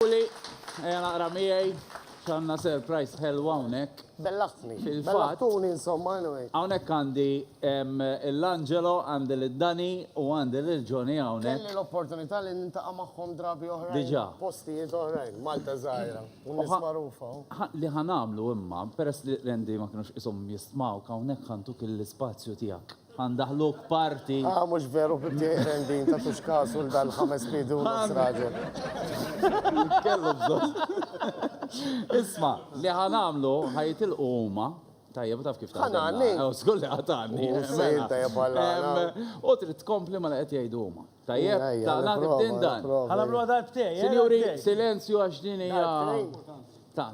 Uli, ejja naqra miegħi x'għandna surprise ħelwa hawnhekk. Bellaħtni. Fil-fatt. Bellaħtuni insomma anyway. Hawnhekk għandi l-Angelo, għandi l-Dani u għandi l-Ġoni hawnhekk. Kelli l-opportunità li nintaqa' magħhom drabi oħrajn. Diġà. Postijiet oħrajn, Malta żgħira. U nies magħrufa. Li ħanamlu imma, peress li rendi ma kinux ishom jistmgħu hawnhekk ħantuk l-ispazju tiegħek. Ħa ndaħħluk party. Ah, mhux veru bibti eqren din ta' tux kasu l dan ħames pidu nofs raġel. Kellu bżonn. Isma, li ħa nagħmlu ħa jitilqu huma Tajjeb, taf kif taf. Ħanani. Skur li ħatani. U trid tkompli ma li qed jgħidu huma. Tajjeb, ta' nagħti bdin dan. Ħanamlu għadal btej. Sinjuri, silenzju għax din hija. Ta'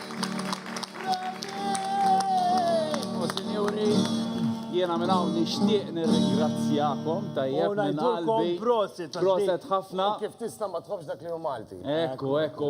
jiena minn hawn nixtieq nirringrazzjakom tajjeb minn qalbi. Proset ħafna. Kif tista' ma tħobbx dak li hu Malti? Ekku, ekku.